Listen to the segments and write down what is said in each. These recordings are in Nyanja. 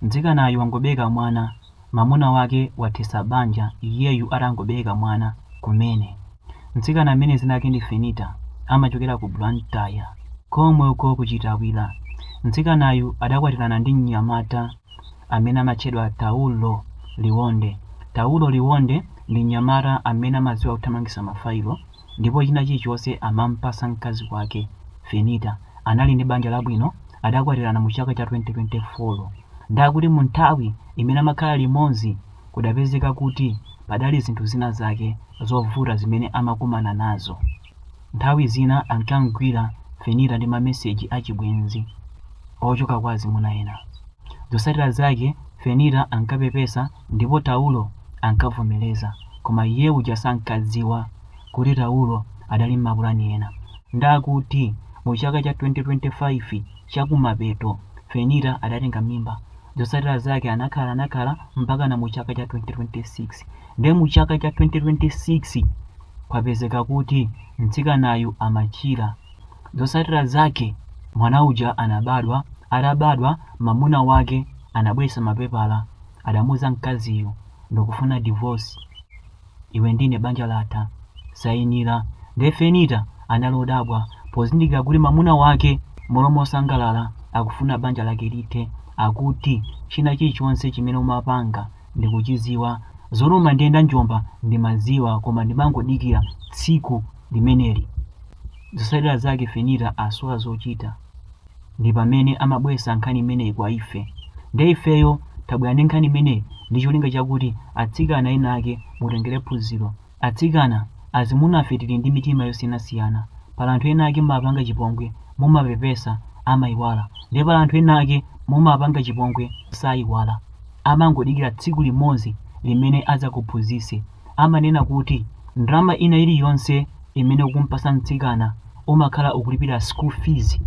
Mtsikanayu wangobereka mwana, mamuna wake wathetsa banja iyeyu atangobereka mwana kumene. Mtsikana amene dzina lake ndi Fenita amachokera ku Blantyre komwe uko ku Chitawira. Mtsikanayu adakwatirana ndi mnyamata amene amatchedwa Taulo Liwonde. Taulo Liwonde ndi mnyamata amene amadziwa kuthamangitsa mafailo. ndipo china chilichonse amampasa mkazi wake Fenita anali ndi banja labwino adakwatirana mu chaka cha 2024 nde akuti mu nthawi imene amakhala limodzi kudapezeka kuti padali zinthu zina zake zovuta zimene amakumana nazo nthawi zina ankamgwira Fenita ndi ma message a chibwenzi ochoka kwa azimuna ena zosatira zake Fenita ankapepesa Ndipo Taulo ankavomereza koma iye uja sankadziwa kuti Taulo adali mmapulani ena nde akuti mu chaka cha 2025 chakumapeto Fenita adatenga mimba zotsatira zake anakhala anakhala mpakana mu chaka cha 2026 nde mu chaka cha 2026 kwapezeka kuti mtsikanayu amachira Zotsatira zake mwana uja anabadwa, atabadwa mamuna wake anabweresa mapepala adamuuza mkaziyo ndikufuna divorce iwe ndine banja latha sainira nde Fenita anali odabwa pozindikira kuti mamuna wake mmalo mosangalala akufuna banja lake lithe akuti china chilichonse chimene umapanga ndikuchiziwa zonama ndi ya nda njomba ndimaziwa koma ndimangodikira tsiku limeneli. Zotsatira zake Fenita asowa zochita ndi pamene amabweretsa nkhani imeneyi kwa ife. Nde ifeyo tabwera ndi nkhani imeneyi ndi cholinga chakuti atsikana ena ake mutengere phunziro. Atsikana, azimuna ife tili ndi mitima yosiyanasiyana. Pali anthu ena ake mumapanga chipongwe, mumapepesa, amaiwala. Nde pali anthu ena ake mumapanga chipongwe, saiwala. Amangodikira tsiku limodzi limene adzakuphunzitse. amanena kuti ndalama ina iliyonse imene ukumpasa mtsikana umakhala ukulipira school fees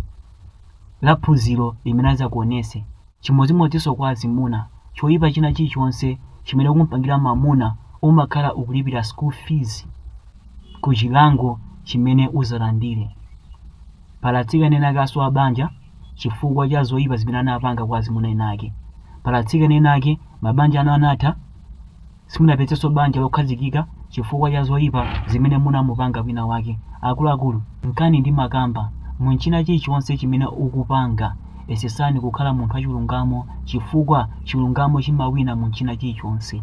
la phunziro limene azakuonese. Chimodzimodzinso kwa azimuna, choipa china chilichonse chimene ukumpangira mamuna umakhala ukulipira school fees ku chilango chimene uzalandire. Pali atsikana enaake asowa banja chifukwa cha zoipa zimene anapanga kwa azimuna enaake. Pali atsikana enaake mabanja awo anatha. Simunapezenso banja lokhazikika chifukwa cha zoipa zimene munamupanga wina wake. Akuluakulu, nkhani ndimakamba, munchina chilichonse chimene ukupanga, esesani kukhala munthu wachilungamo chifukwa chilungamo chimawina munchina chilichonse.